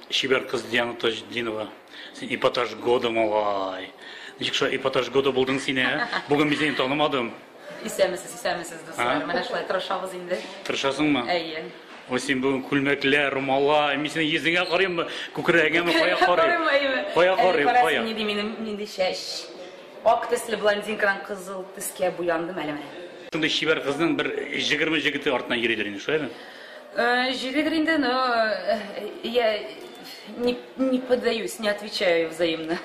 Чибәр кыз Диана Таҗдинова. Син эпатаж года малай. Ничек шулай эпатаж года булдың син, ә? Бүген мин сине танымадым. Исәмесез, исәмесез, дуслар. Менә шулай тырышабыз инде. Тырышасыңмы? Әйе. Ой, син бүген күлмәкләр, румала, мин синең йөзеңә карыйммы, күкрәгеңәме, кая карыйм? Кая карыйм, кая? Минем нинди чәч. Ак төсле блондинкадан кызыл төскә буяндым әле менә. Шундый чибәр кызның бер җегерме җегете артыннан йөридер инде, шулаймы? Йөридер инде, но я не поддаюсь, не отвечаю взаимно.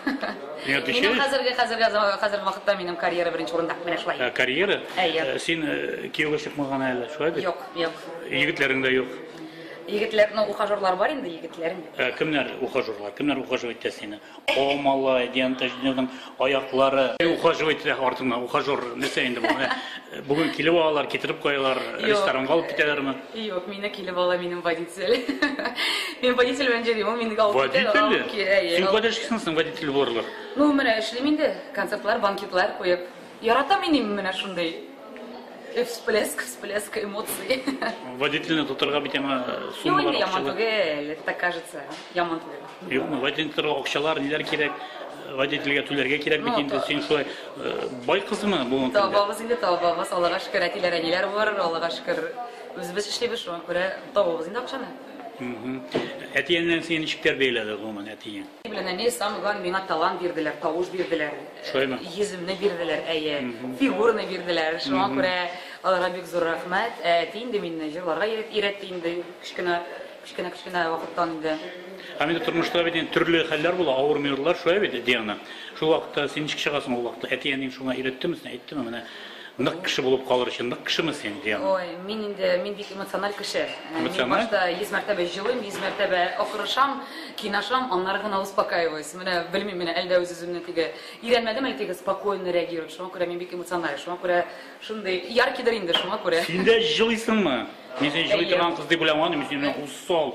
Не отвечаешь? Минем хәзерге, хәзерге, хәзерге вакытта минем карьера беренче урында, менә шулай. Ә, карьера? Әйе. Э, син э, кияүгә чыкмаган әле, шулай бит? Юк, юк. Егетләрең дә юк. Егетләрнең ухажерлары бар инде, егетләрем. Ә, кемнәр ухажерлар? Кемнәр ухажер итә сине? О, малай, дигән Таҗетдинның аяклары. Ухаживать итә артыннан, ухажер, нәрсә инде бу? Менә э, бүген килеп алалар, китереп куялар, ресторанга алып китәләрме? Юк, мине килеп ала минем водитель. Мин водитель белән йөрим, ул мине алып китә. Водитель? алып ки- әйе, Син алып- кайда эшлисең соң водитель булырлык? Ну, менә эшлим инде. Концертлар, банкетлар куеп. Яратам иним менә шундый всплеск, всплеск эмоций. Водительны тотырга бит яңа суммалар акчалар. Юк, яман түгел, это так кажется, яман түгел. Юкмы, водительны тотырга акчалар, ниләр кирәк? водительгә түләргә кирәк бит инде син шулай э, бай кызмы бүгенге көндә табабыз инде табабыз аллага шөкер әтиләр әниләр бар аллага шөкер үзебез эшлибез шуңа күрә табабыз инде акчаны әти әниләрең сине ничек тәрбияләде гомумән әтиең Белән әни самый главный миңа талант бирделәр, тавыш бирделәр. Шулаймы? Йөземне бирделәр, әйе. Фигурны бирделәр. Шуңа күрә аларга бик зур рәхмәт. Ә әти инде мине җырларга өйрәтте инде кечкенә кечкенә кечкенә вакыттан инде. Һәм инде тормышта бит инде төрле хәлләр була, авыр минутлар шулай бит, Диана. Шул вакытта син ничек чыгасың ул вакытта? Әти-әниң шуңа өйрәттеме, әйттеме менә? Нык кеше булып калыр өчен нык кешеме син, Диана? Ой, мин инде, мин бик эмоциональ кеше. Э, мин башта 100 мәртәбә җылыйм, 100 мәртәбә акырышам, кинашам, аннары гына успокаиваюсь. Менә белмим, менә әлдә үз-үземне теге өйрәнмәдем әле теге спокойно реагировать. Шуңа күрә мин бик эмоциональ, шуңа күрә шундый яркидер инде, шуңа күрә. Син дә җылыйсыңмы? Мин син җылый торган кыз дип уйламадым, мин синнән усал,